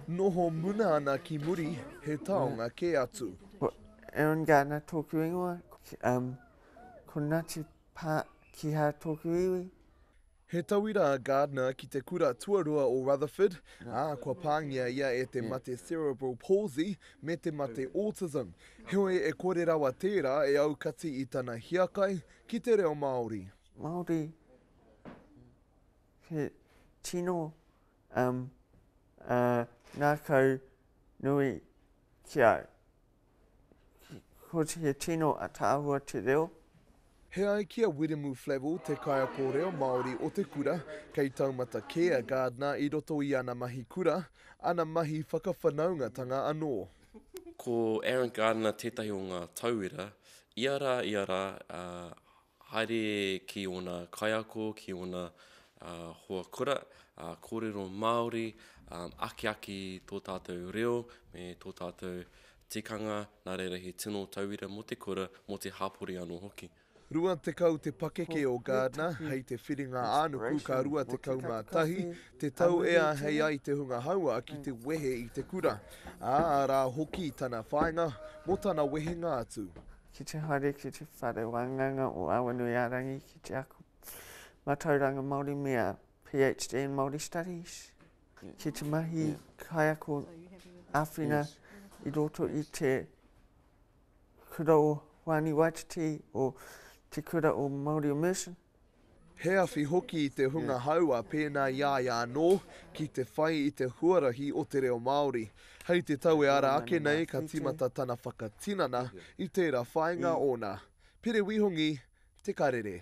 Noho muna ana ki muri he taonga kē atu. Ko Aaron Gardner tōku ingoa. Ko Ngāti Pā Kihā tōku iwi. He tauira a Gardner ki te kura tuarua o Rutherford, ā, kua pāngia ia e te mate cerebral palsy me te mate autism. Heoi, e kore rawa tērā e aukati i tana hiakai ki te reo Māori. Māori, he tino um, a ngākau nui ki au. Ko he tino ataahua te reo. He ai ki a Wiremu Flavell, te kaiako reo Māori o te kura, kei taumata kē a Gardner i roto i ana mahi kura, ana mahi whakawhanaungatanga anō. Ko Aaron Gardner tētahi o ngā tauira, ia rā, ia rā, ā, Haere ki ōna kaiako, ki ōna hoa kura, kōrero Māori, akiaki tō tātou reo me tō tātou tikanga, nā reira he tino tauira mō te kura, mō te hapori anō hoki. 20 te pakeke o Gardner hei te whiringa-ā-nuku ka 21 te tau e āhei ai te hunga haua ki te wehe i te kura, ā, arā hoki tana whāinga mō tana wehenga atu. ki te haere, ki te whare wāngaunga o Awanuiārangi ki te ako mātauranga Māori me a PhD in Māori Studies, ki te mahi kaiako āwhina yes. i roto i te kura o Wāni Waititi o te kura o Māori Immersion. He awhi hoki i te hunga haua pēnā i a ia anō ki te whai i te huarahi o te reo Māori. Hei te tau e ara ake nei ka tīmata tana whakatinana i tērā whāinga ōna. Pire Wihongi, Te Karere.